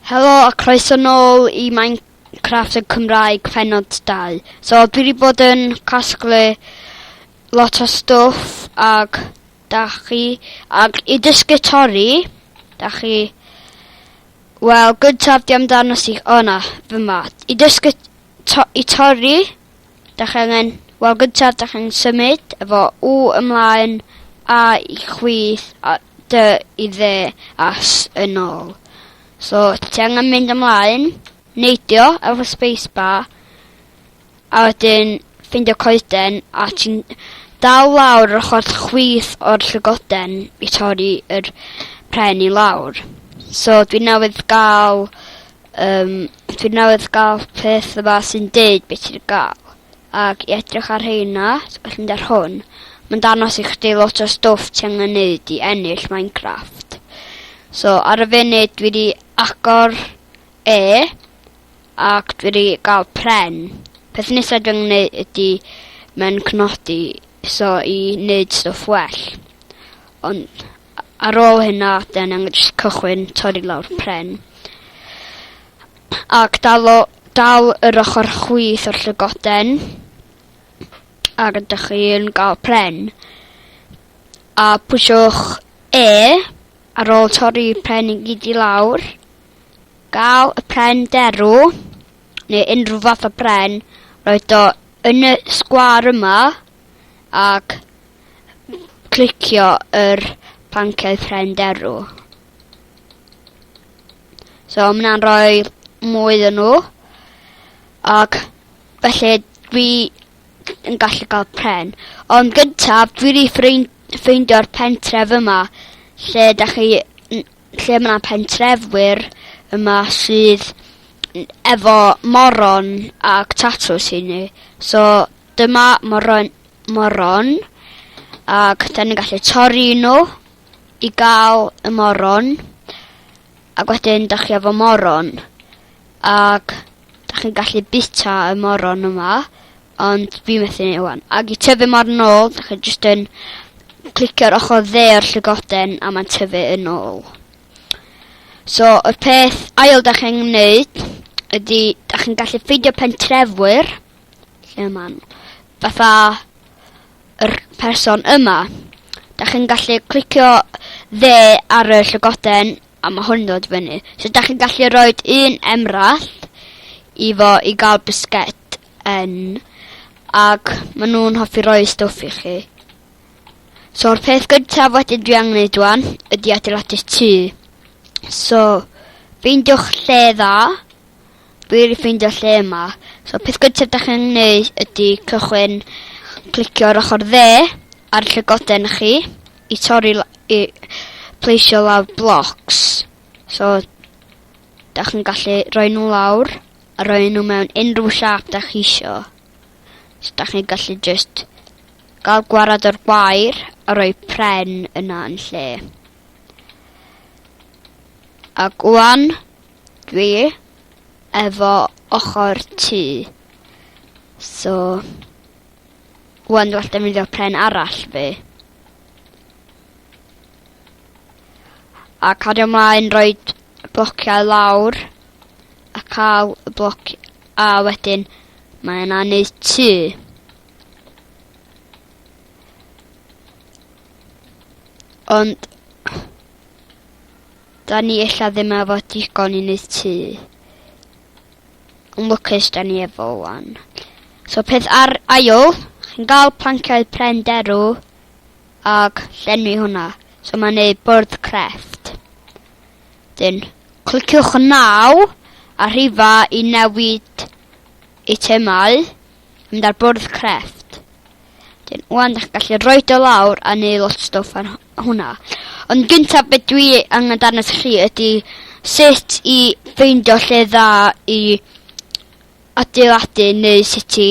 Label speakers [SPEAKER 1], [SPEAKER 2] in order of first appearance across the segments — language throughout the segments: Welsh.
[SPEAKER 1] Helo a croeso nôl i Minecraft yn Cymraeg pennod dau. So dwi wedi bod yn casglu lot o stwff ag da chi ag i dysgu torri da chi wel gyntaf di amdano si o na fy ma i dysgu to i torri Dach angen, wel gyntaf dach angen symud efo u ymlaen a i chwith a dy i dde a s yn ôl. So ti angen mynd ymlaen, neidio efo spacebar a wedyn ffeindio coeden a ti'n dal lawr yr ochr chwith o'r llygoden i torri yr pren i lawr. So dwi newydd ga'l Yym dwi newydd ga'l peth yma sy'n deud be' ti 'di ga'l. Ag i edrych ar rheina so gallu mynd ar hwn ma'n dangos i chdi lot o stwff ti angen neud i ennill Minecraft. So ar y funud dwi 'di agor e ac dwi 'di ga'l pren. Peth nesa dwi angen neu' ydi mynd cnodi so i neud stwff well. Ond Ar ôl hynna den yn jyst cychwyn torri lawr pren ac dal o dal yr ochr chwith o'r llygoden a rydych chi'n gael pren. A pwysiwch E ar ôl torri pren i gyd i lawr. Gael y pren derw neu unrhyw fath o bren roed o yn y sgwar yma ac clicio yr pancau ffrind erw. So mae hwnna'n rhoi mwy yn nhw. Ac felly dwi yn gallu cael pren. Ond gyntaf, dwi wedi ffrind ffeindio'r pentref yma lle da chi lle mae yna pentrefwyr yma sydd efo moron ac tatws i ni. So Dyma moron, moron ac da ni'n gallu torri nhw i gael y moron ac wedyn da chi efo moron ac da chi'n gallu bita y moron yma ond fi methu ni wan. Ac i tyfu mor nôl, da chi jyst yn clicio'r ochr dde o'r llygoden a mae'n tyfu yn ôl. So, y peth ail da chi'n gwneud ydy, da chi'n gallu ffeindio pentrefwyr lle ma'n fatha yr person yma. 'Dach chi'n gallu clicio fe ar y llygoden a ma' hwn yn dod i fyny. So 'dach chi'n gallu roed un emrall i fo i ga'l bisged yn ag ma' nw'n hoffi roi stwff i chi. So'r peth gyntaf wedyn dwi angen neud ŵan ydi adeiladu'r tŷ. So, ffeindiwch lle dda Dwi wedi ffeindio lle yma. So peth gyntaf dach chi'n angen neud ydi cychwyn clicio ar ochr dde ar llygoden i chi i torri la- i pleisio lawr blocs. So dach chi'n gallu rhoi nhw lawr a rhoi nhw mewn unrhyw siap dach chi isio. So dach chi'n gallu just gael gwarad o'r gwair a rhoi pren yna yn lle. Ac ŵan Dwi efo ochor tŷ so ŵan dwi alltid mynd i'r pren arall fi. A cario mlaen roed blociau lawr a cael y bloc a wedyn mae yna neud tŷ. Ond Da ni ella ddim efo digon i neud tŷ. Yn lwcus da ni efo wan. So peth ar ail, chi'n gael planciau pren derw ac llenwi hwnna. So mae'n neud bwrdd crefft. Dyn, cliciwch naw a rhifa i newid eitemau mynd ar bwrdd crefft. Dyn, wan dych gallu rhoi dy lawr a neu lot stwff ar hwnna. Ond gyntaf beth dwi angen darnas chi ydy sut i ffeindio lle dda i adeiladu neu sut i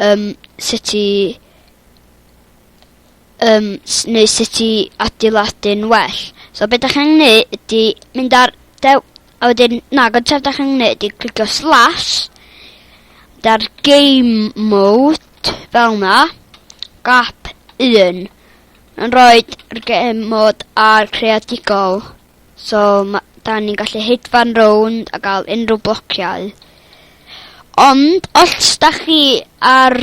[SPEAKER 1] um, sut i um, neu sut i adeiladu'n well. So beth ydych chi'n gwneud ydy mynd ar dew A wedyn, na, gyntaf da chi'n gwneud i clicio slash, da'r game mode, fel na, gap 1, yn roed yr game mode a'r creadigol. So, da ni'n gallu hedfan rownd a gael unrhyw blociau. Ond, os da chi ar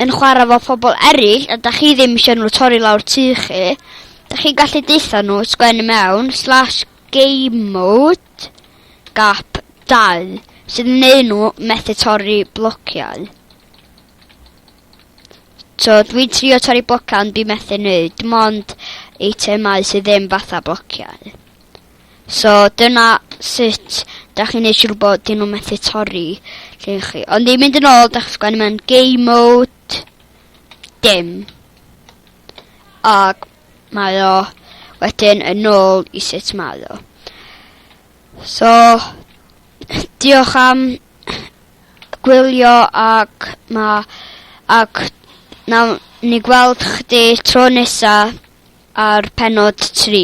[SPEAKER 1] yn chwarae fo phobl eraill a da chi ddim eisiau nhw torri lawr tu chi, da chi'n gallu deitha nhw sgwennu mewn slash Game Mode, gap 2, sydd yn neud nhw methu torri blociau. So, dwi'n trio torri blociau ond dwi'n methu neud, dim ond eitemau sydd ddim fatha blociau. So, dyna sut da chi'n neud siŵr bod dyn nhw'n methu torri lle chi. Ond ni'n mynd yn ôl, da chi'n sgwennu mewn game mode, dim. Ac Mae o wedyn yn ôl i sut mae o. So, diolch am gwylio ac ma ac nawn ni gweld chdi tro nesa ar penod 3.